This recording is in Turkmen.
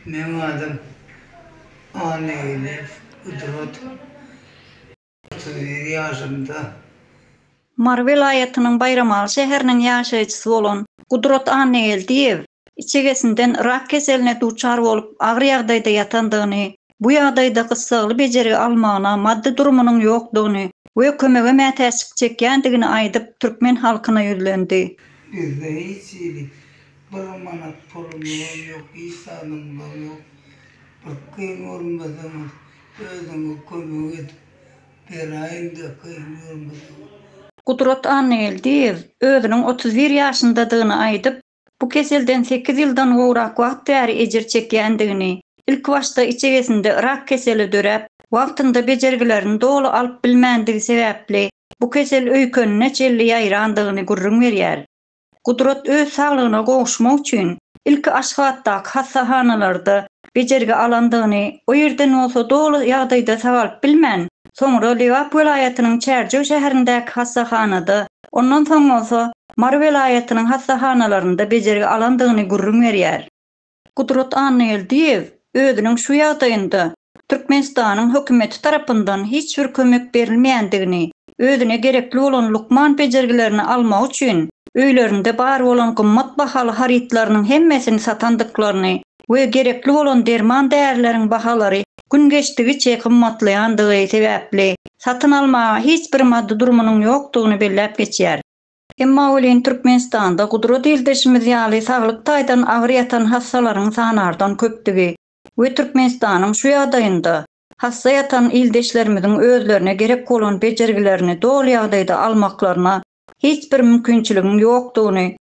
Meniň adym Annageldiýew Gudrat. Otuz bir ýaşymda. Mary welaýatynyň Baýramaly şäheriniň ýaşaýjysy bolan Gudrat Annageldiýew içegesinden rak keseline duçar bolup agyr ýagdaýda ýatandygyny Bu ýagdaýda gyssagly bejergi almagyna maddy durumynyň ýokdugyny we kömege mätäçlik çekýändigini aýdyp, türkmen halkyna ýüzlendi. Bizde hiç hili bir manat pulumyzam ýok, hiç zadymyzam ýok. Bir kyn görmeseňiz, özüňiz kömek edip beraýyň-da, kyn görmeseňiz. Gudrat Annageldiýew özüniň otuz bir ýaşyndadygyny aýdyp, Bu keselden sekiz ýyldan gowrak wagt bäri ejir çekýändigini, ilkibaşda içegesinde rak keseli döräp, wagtynda bejergilerini doly alyp bilmändigi sebäpli bu kesel öýkenine çenli ýaýrandygyny gürrüň berýär. Gudrat öz saglygyna gowuşmak üçin ilki Aşgabatdaky hassahanalarda bejergi alandygyny, o ýerden bolsa doly ýagdaýda sagalyp bilmän, soňra Lebap welaýatynyň Çärjew şäherindäki hassahanada, ondan soň bolsa Mary welaýatynyň hassahanalarynda bejergi alandygyny gürrüň berýär. Gudrat Annageldiýew özüniň şu ýagdaýynda Türkmenistanyň hökümeti tarapyndan hiç bir kömek berilmeýändigini, özüne gerekli bolan lukman bejergilerini almak üçin öýlerinde bar bolan gymmat bahaly harytlarynyň hemmesini satandyklaryny we gerekli bolan derman-därileriň bahalary gün geçdigiçe gymmatlaýandygy sebäpli, satyn almaga hiç bir maddy durumynyň ýokdugyny belläp geçýär. Emma welin Türkmenistanda gudrat ildeşimiz ýaly saglyk taýdan agyr ýatan hassalaryň sanardan köpdügi we Türkmenistanyň şu ýagdaýynda hassa ýatan ildeşlerimiziň özlerine gerek bolan bejergilerini doly ýagdaýda almaklaryna hiç bir mümkinçiligiň ýokdugyny